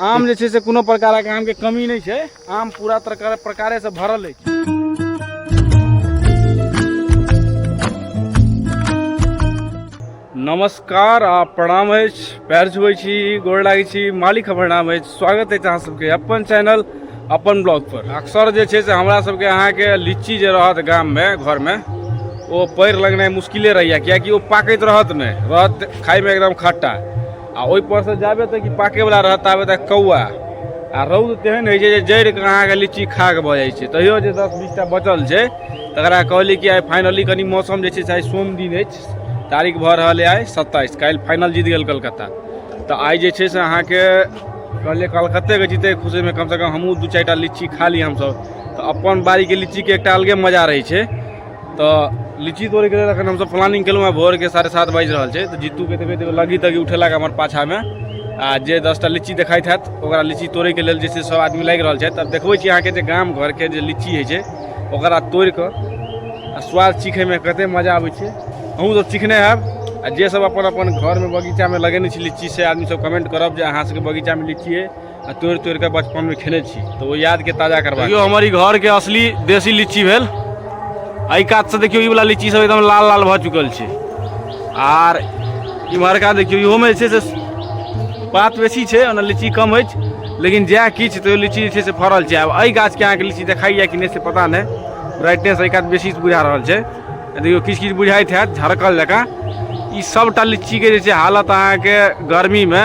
आम जे छै से कोनो प्रकारक आमके कमी नहि छै आम पूरा प्रकार प्रकारेसँ भरल अछि नमस्कार आ प्रणाम अछि पैर छुबै छी गोर लागै छी मालिक हमर नाम अछि स्वागत अछि अहाँ सबके अपन चैनल अपन ब्लॉग पर अक्सर जे छै से हमरा सबके अहाँके लीची जे रहत गाममे घरमे ओ पएर लगनाइ मुश्किले रहैए किएकि ओ पाकैत रहत नहि रहत खाइमे एकदम खट्टा आ ओहिपर से जाबे तक कि पाकयवला रहत ताबे तक कौआ आ रौद तेहन होइ छै जे जड़ि कऽ अहाँके लीची खा कऽ भऽ जाइ छै तैयो जे दस बीसटा बचल छै तकरा कहली कि आइ फाइनली कनि मौसम जे छै से आइ सोम दिन अछि तारीख भऽ रहल अइ आइ सत्ताइस काल्हि फाइनल जीत गेल कलकत्ता तऽ आइ जे छै से अहाँके कहलियै कलकत्तेके जीते खुशीमे कमसँ कम हमहूँ दू चारि टा लीची खा ली हमसभ तऽ अपन बाड़ीके लीचीके एकटा अलगे मजा रहै छै तऽ लीची तोड़ैके लेल एखन हमसभ प्लानिंग केलहुँ हेँ भोरके साढ़े सात बाजि रहल छै तऽ जीतूके देखबै तऽ लगी तगी उठेलक हमर पाछामे आ जे दसटा लीची देखाइत हैत ओकरा लीची तोड़ैके लेल जे छै सभ आदमी लागि रहल छथि तब देखबै छी अहाँके जे गाम घरके जे लीची होइ छै ओकरा तोड़ि कऽ आ स्वाद चीखैमे कतेक मजा अबै छै अहूँसभ चीखने हैब आ जेसभ अपन अपन घरमे बगीचामे लगेने छी लीची से आदमीसभ कमेंट करब जे अहाँसभके बगीचामे लीची अइ आ तोड़ि तोड़ि कऽ बचपनमे खेने छी तऽ ओ यादके ताजा करबा देखियौ हमर ई घरके असली देसी लीची भेल एहि कातसँ देखियौ ई वाला लीची सब एकदम लाल लाल भऽ चुकल छै आर इम्हरका देखियौ इहोमे जे छै से पात बेसी छै ओना लीची कम अछि लेकिन जएह किछु तैयो लीची जे छै से फड़ल छै आब एहि गाछके अहाँके लीची देखाइए कि नहि से पता नहि ब्राइटनेस एहि कात बेसी बुझा रहल छै आ देखियौ किछु किछु बुझाइत हैत झरकल जकाँ ई सभटा लीचीके जे छै हालत अहाँके गर्मीमे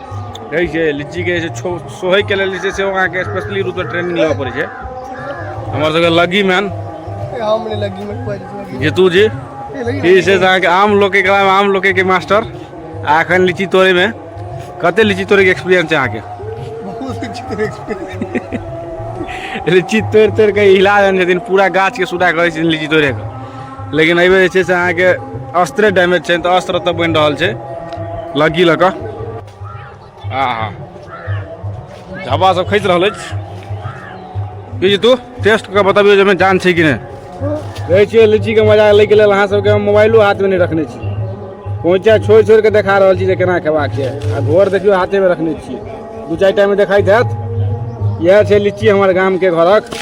कहै छै लीचीके जे छै सोहैके लेल जे छै से अहाँके स्पेशली रूपसँ ट्रेनिंग लेबऽ पड़ै छै हमर सबके लग्गी मैन जीतू जी ई छै अहाँके आम लोके कलामे आम लोकेके मास्टर आ एखन लीची तोड़ैमे कते लीची तोड़ैके एक्सपीरियंस छै अहाँके लीची तोड़ि तोड़ि कऽ हिला देने छथिन पूरा गाछके सुधा करै छथिन लीची तोड़ैके लेकिन एहिमे जे छै से अहाँके अस्त्रे डैमेज छै तऽ अस्त्र तऽ बनि रहल छै लग्गी लऽ कऽ आ हा झब्बा सब खसि रहल अछि बीज तू टेस्ट कऽ बताबियौ जे जान छै कि नहि कहै छियै लीचीके मजा लैके लेल अहाँ सबके हम मोबाइलो हाथमे नहि रखने छी कोइचा छोड़ि छोड़ि कऽ देखा रहल छी जे केना खेबाक छै आ घर देखियौ हाथेमे रखने छियै दू चारि टाइम देखाइत हैत इएह छै लीची हमर गामके घरक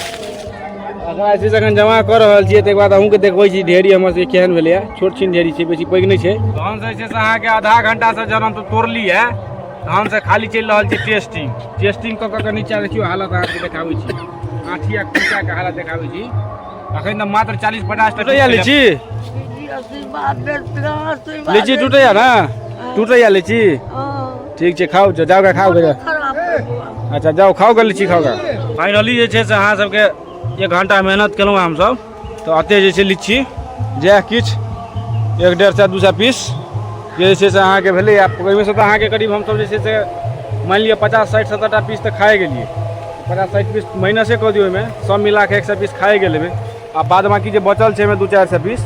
अगर ऐसे जखन जमा कऽ रहल छियै ताहिके बाद अहूँके देखबै छी ढेरी हमर सबके केहन भेलैए छोट छीन ढेरी छै बेसी पैघ नहि छै तहन जे छै से अहाँके आधा घंटासँ जहन हम तोड़लियै तहन से खाली चलि रहल छी टेस्टिंग टेस्टिंग कऽ कऽ नीचा देखियौ हालत अहाँके देखाबै छी आँठी आ कुचाके हालत देखाबै छी अखन तऽ मात्र चालीस पचास टका लीची लीची टूटैया ने टूटैया लीची ठीक छै खाउ जाउ जाउ खाउ गए खराब करबो। अच्छा जाउ खाउ गए लीची खाउ गए फाइनली जे छै से अहाँ सबके एक घंटा मेहनत केलहुँ हँ हमसब तऽ अते जे छै लीची जएह किछु एक डेढ़ सए दू सए पीस जे जे छै से अहाँके भेलै आ ओहिमे से तऽ अहाँके करीब हमसब जे छै से मानि लिअ पचास साठि सत्तरटा पीस तऽ खाए गेलियै पचास साठि पीस माइनसे कऽ दियौ ओहिमे सब मिला कऽ एक सए पीस खाए गेल हेबै आ बाद बाकी जे बचल छै ओहिमे दू चारि सए पीस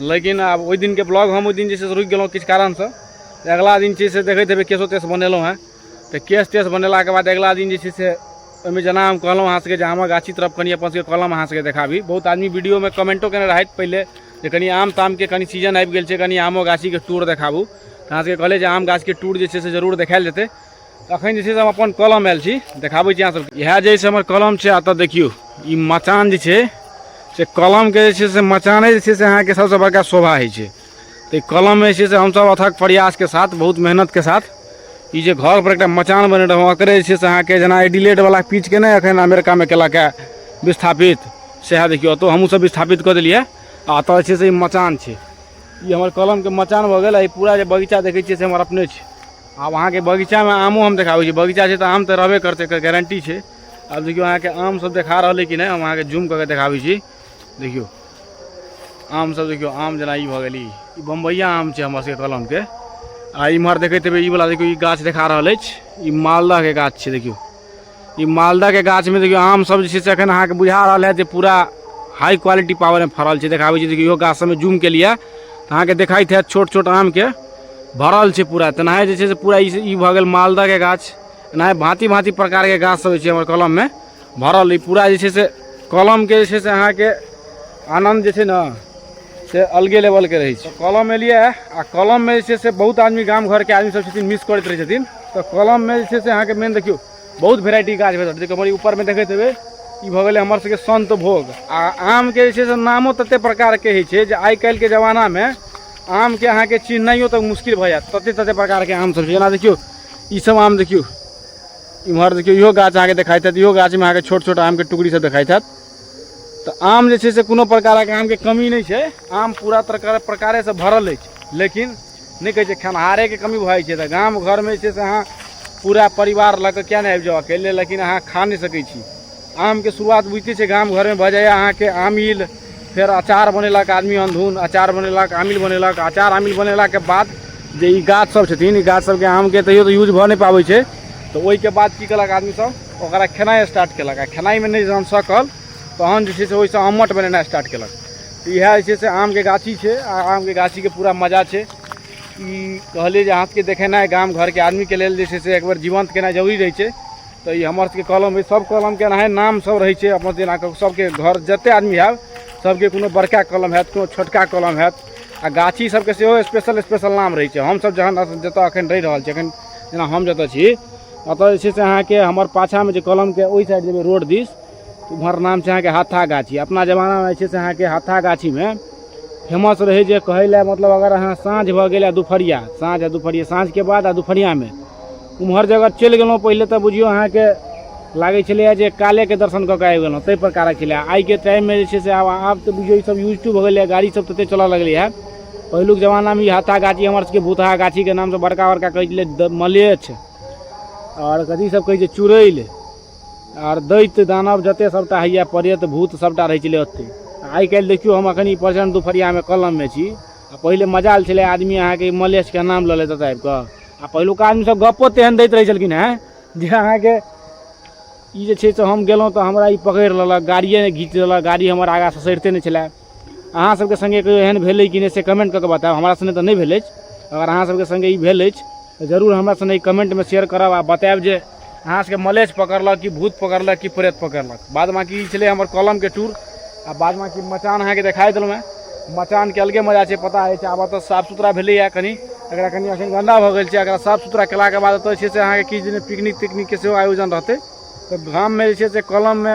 लेकिन आब ओहि दिनके ब्लॉग हम ओहि दिन जे छै से रुकि गेलहुँ किछु कारणसँ तऽ अगिला दिन छै से देखैत हेबै केसो तेस बनेलहुँ हेँ तऽ केस तेस बनेलाके बाद अगिला दिन जे छै से ओहिमे जेना हम कहलहुँ अहाँ सभके जे आमक गाछी तरफ कनि अपन सभके कलम अहाँ सभके देखाबी बहुत आदमी वीडियोमे कमेंटो केने रहथि पहिले जे कनि आम तामके कनि सीजन आबि गेल छै कनि आमो गाछीके टूर देखाबू तऽ अहाँ सभके कहले जे आम गाछके टूर जे छै से जरूर देखायल जेतै अखन जे छै से हम अपन कलम आयल छी देखाबै छी अहाँ सब इएह जे छै हमर कलम छै एतऽ देखियौ ई मचान जे छै से कलमके जे छै से मचाने जे छै से अहाँके सबसँ बड़का शोभा होइ छै तऽ ई कलम जे छै से हमसब अथक प्रयासके साथ बहुत मेहनतके साथ ई जे घर पर एकटा मचान बने रहौं ओकरे जे छै से अहाँके जेना एडिलेट वाला पीच के नहि अखन अमेरिकामे केलक है विस्थापित सएह देखियौ ओतौ हमहूँ सब विस्थापित कऽ देलियै आ एतऽ जे छै से ई मचान छै ई हमर कलमके मचान भऽ गेल आ ई पूरा जे बगीचा देखै छियै से हमर अपने छै आब अहाँके बगीचामे आमो हम देखाबै छी बगीचा छै तऽ आम तऽ रहबे करतै एकर गारंटी छै आब देखियौ अहाँके आम सब देखा रहल अइ कि नहि हम अहाँके जूम कऽ के देखाबै छी देखियौ आम सब देखियौ आम जेना ई भऽ गेल ई बम्बैया आम छै हमर सबके कलमके आ इम्हर देखैत हेबै ई वाला देखियौ ई गाछ देखा रहल अछि ई मालदहके गाछ छै देखियौ ई मालदहके गाछमे देखियौ आमसभ जे छै से एखन अहाँके बुझा रहल है जे पूरा हाई क्वालिटी पावरमे फड़ल छै देखाबै छै देखियौ इहो गाछसभमे जूम केलियै तऽ अहाँके देखाइत हैत छोट छोट आमके भरल छै पूरा तेनाहे जे छै से पूरा ई भऽ गेल मालदहके गाछ एनाहे भाँति भाँति प्रकारके गाछसभ छै हमर कलममे भरल ई पूरा जे छै से कलमके जे छै से अहाँके आनन्द जे छै ने से अलगे लेवलके रहै छै कलम एलियै आ कलममे जे छै से बहुत आदमी गाम घरके आदमी सब छथिन मिस करैत रहै छथिन तऽ कलममे जे छै से अहाँके मेन देखियौ बहुत वेराइटी गाछ भेटत देखियौ हमर ऊपरमे देखैत हेबै ई भऽ गेलै हमर सबके संत भोग आ आमके जे छै से नामो ततेक प्रकारके होइ छै जे आइ काल्हिके जमानामे आमके अहाँके चिन्हनाइयो तक मुश्किल भऽ जायत ततेक ततेक प्रकारके आम सब छै जेना देखियौ ई सब आम देखियौ इम्हर देखियौ इहो गाछ अहाँके देखाइत हैत इहो गाछमे अहाँके छोट छोट आमके टुकड़ी सब देखाइत हैत तऽ आम जे छै से कोनो प्रकारक आमके कमी नहि छै आम पूरा प्रकार प्रकारेसँ भरल अछि लेकिन नहि कहै छै खेनिहारेके कमी भऽ जाइ छै तऽ गाम घरमे जे छै से अहाँ पूरा परिवार लऽ कऽ किएक नहि आबि जाउ अकेले लेकिन अहाँ खा नहि सकै छी आमके शुरुआत बुझिते छै गाम घरमे भऽ जाइए अहाँके आमिल फेर अचार बनेलक आदमी अनधुन अचार बनेलक आमिल बनेलक अचार आमिल बनेलाके बाद जे ई गाछसभ छथिन ई गाछसभके आमके तैयो तऽ यूज भऽ नहि पाबै छै तऽ ओहिके बाद की केलक आदमीसभ ओकरा खेनाइ स्टार्ट केलक आ खेनाइमे नहि जहन सकल तहन जे छै से ओहिसँ आमट बनेनाइ स्टार्ट केलक तऽ इएह जे छै से आमके गाछी छै आ आमके गाछीके पूरा मजा छै ई कहलियै जे अहाँके देखेनाइ गाम घरके आदमीके लेल जे छै से एक बेर जीवंत केनाइ जरूरी रहै छै तऽ ई हमर सबके कलम अइ सब कलमके एनाहे नाम सब रहै छै अपन जेना कऽ सबके घर जते आदमी आयल सबके कोनो बड़का कलम हैत कोनो छोटका कलम हैत आ गाछी सबके सेहो स्पेशल स्पेशल नाम रहै छै हमसब जहन जतऽ अखन रहि रहल छी अखन जेना हम जतऽ छी ओतऽ जे छै से अहाँके हमर पाछामे जे कलमके ओहि साइड जेबै रोड दिस उम्हर नाम छै अहाँके हाथा गाछी अपना जमानामे जे छै से अहाँके हाथा गाछीमे फेमस रहै जे कहै लए मतलब अगर अहाँ साँझ भऽ गेल आ दुपहरिया साँझ आ दुपहरिया साँझके बाद आ दुपहरियामे उम्हर जगह चलि गेलहुँ पहिले तऽ बुझियौ अहाँके लागै छलैए जे कालेके दर्शन कऽ कऽ आबि गेलहुँ ताहि प्रकारक छलै आइके टाइममे जे छै से आब आब तऽ बुझियौ ईसभ यूज टू भऽ गेलैए गाड़ीसभ ततेक चलय लगलैए पहिलुक जमानामे ई हाथा गाछी हमर सबके भूतहा गाछीके नामसँ बड़का बड़का कहै छलै मलेछ आओर कथी सब कहै छै चुड़ैल आर दैत दानव जते सबटा होइए प्रेत भूत सबटा रहै छलै ओते आइ काल्हि देखियौ हम अखन ई प्रचंड दुपहरियामे कलममे छी आ पहिले मजाल छलै आदमी अहाँके मलेछके नाम लऽ लेत एतऽ आबि कऽ आ पहिलुका आदमी सब गप्पो तेहन दैत रहै छलखिन हेँ जे अहाँके ई जे छै से हम गेलहुँ तऽ हमरा ई पकड़ि लेलक गाड़िए घीच लेलक गाड़ी हमर आगाँ ससरिते नहि छलै अहाँ सबके संगे कहियो एहन भेलै कि नहि से कमेंट कऽ के बताउ हमरा संगे तऽ नहि भेल अछि अगर अहाँ सबके संगे ई भेल अछि तऽ जरूर हमरा संगे कमेंटमे शेयर करब आ बतायब जे अहाँ सबके मलेच पकड़लक कि भूत पकड़लक कि प्रेत पकड़लक बाद बाकी ई छलै हमर कलमके टूर आ बाद बाकी मचान अहाँके देखाइ देलहुँ हेँ मचानके अलगे मजा छै पता अछि आब एतऽ साफ सुथरा भेलैए कनि एकरा कनि एखन गन्दा भऽ गेल छै एकरा साफ सुथरा केलाके बाद एतऽ जे छै से अहाँके किछु दिन पिकनिक तिकनिकके सेहो आयोजन रहतै तऽ गाममे जे छै से कलममे